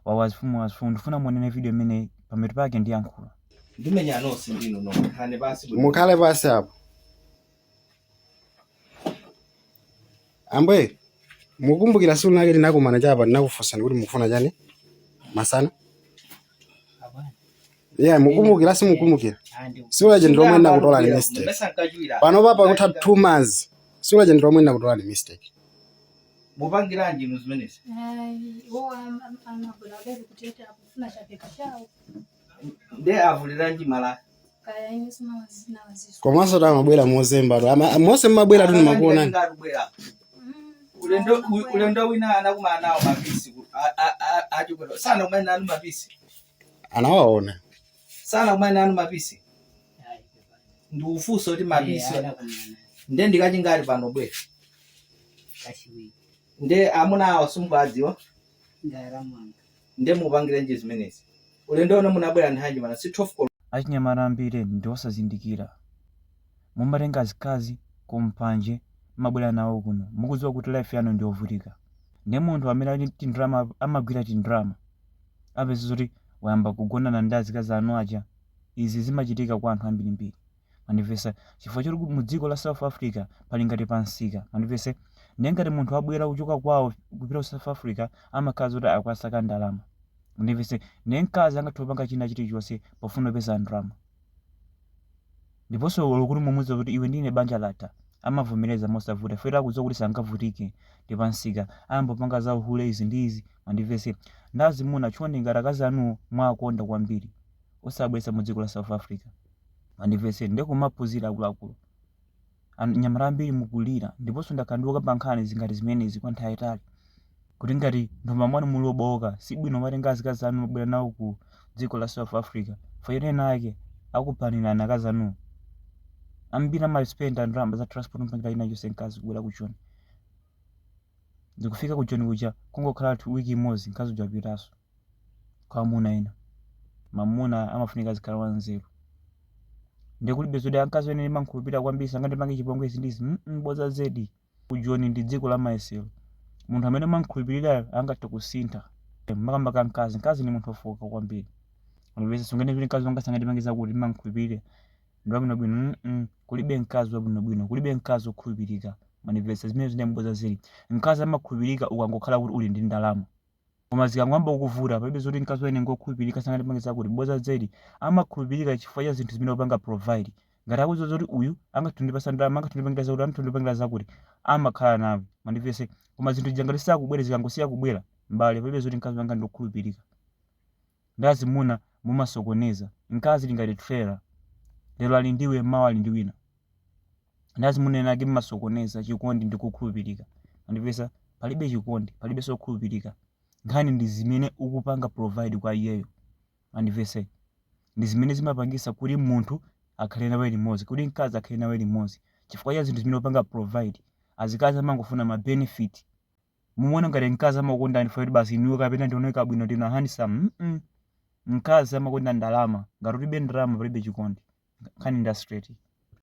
Wawa zifumu wawa zifumu ndifuna muonere video imene pametu pake ndiyankhula. Ndimenya nonse ndinu nomwe khani basi bwino. mukhale pansi apo ambuye mukumbukira siku lake tinakumana chapa ndinakufunsani kuti mukufuna chani masana ye mukumbukira simukumbukira siku lache ndilomwe ndinakutolani mistake Ndimayesa nkagwira. pano papa kutha two months siku lache ndilomwe ndinakutolani mistake mupangiranji inu zimenezi Ayi, iwo am- am- amagula bebe kuti akufuna chapheka chawo nde avuliranji malaya kaya ine sindiwadziwa sindiwadziwanso komanso amabwera mozemba tu Ama- monse mmabwera tu ndimakuona ndikubwera ulendo u- ulendo wina anakumana nawo mapisi ku- a- a- a- achikwera sana kumene nanu mapisi anawaona sana kumene nanu mapisi ndikufunsa kuti mapisi nde ndikachingati pano bwera kachiwiri nde amuna awa simukuwadziwa ndara mwanga nde mupangiranji zimenezi ulendo uno munabwera nthawi yanji man si 12 koloko achinyamata ambiri ndi osazindikira mumatenga azikazi kumpanje mmabwera nawo kuno mukudziwa kuti life yanu ndi yovutika ndi munthu amene ali tindrama amagwira tindrama apeza zoti wayamba kugonana ndi azikazi anu aja izi zimachitika kwa anthu ambirimbiri Mwandimvesa? Chifukwa choti mu dziko la South Africa pali ngati pa msika. Mwandimvesa? Ndiye ngati munthu abwera kuchoka kwawo kupita ku South Africa amakhala zoti akukasaka ndalama. Mwandimvesa? Ndiye mkazi angathe kupanga china chilichonse pofuna kupeza ndalama. Ndiponso olo kuti mumuuza kuti iwe ndi ine banja latha, amavomereza mosavuta chifukwa akudziwa kuti sangavutike ndi pa msika. Ayamba kupanga za uhule izi ndi izi. Mwandimvesa? Ndi azimuna chonde ngati akazi anuwo mwawakonda kwambiri, osawabweretsa mu dziko la South Africa. mwandimvesa ndiye kumaphunzira akuluakulu An- nyamata ambiri mukulira ndiponso ndakhala ndikukamba nkhani zingati zimenezi kwa nthawi yayitali kuti ngati mthumba mwanu muli mobowoka si bwino kumatenga azikazi anu kumabwera nawo ku dziko la south africa fana wina wake akupanirani akazi anuwo ambiri amaspenda ndalama za transport mpaka ina yonse mkazi kubwera ku joni ndikufika ku joni kuja kungokhala two wiki imodzi mkazi uja apitaso kwa amuna ena mamuna amafunika azikhala wanzeru ndi kulibe zoti mkazi wanga ine ndimankhulupirira kwambiri sangandipange chipongwe izi ndizi mm, boza zedi kujoni ndi dziko la mayesero munthu amene umankhulupirirayo angathe kusintha makamaka mkazi mkazi ndi munthu ofoka kwambiri ndiye sunganene kuti mkazi wanga sangandipange zakuti ndimankhulupirira ndi wabwinobwino mm -mm. kulibe mkazi wabwinobwino kulibe mkazi okhulupirika mwandimvesa zimenezi ndi mmene zilili mkazi amakhulupirika ukangokhala kuti uli ndi ndalama Koma zikangoyamba kukuvuta, palibe zoti mkazi wa ine ngwokhulupirika sangandipange zakuti. Bodza zedi. Amakhulupirika chifukwa cha zinthu zimene upanga provide. Ngati akudziwa zoti uyu angathe kundipatsa ndalama, angathe kundipangira zakuti, angathe kundipangira zakuti, amakhala nawe. Mwandimvetsetsa? Koma zinthu zija ngati sizikubwera, zikangosiya kubwera, m'bale, palibe zoti mkazi wanga ndi wokhulupirika. ndi azimuna mumasokoneza mkazi ali ngati trailer lero ali ndiwe mawa ali ndi wina ndi azimuna ena ake mmasokoneza chikondi ndi kukhulupirika mwandimvetsa palibe chikondi palibe zokhulupirika nkhani ndi zimene ukupanga provide kwa iyeyo mwandimvetsetsa ndi zimene zimapangisa kuti munthu akhale nawe limodzi kuti mkazi akhale nawe limodzi chifukwa cha zinthu zimene upanga provide azikazi amangofuna ma benefit mumaona ngati mkazi amakukondani chifukwa choti basi inuyo kapena ndimaoneka bwino ndine handsome mm mkazi amakonda ndalama ngati ulibe ndalama palibe chikondi nkhani ndi straight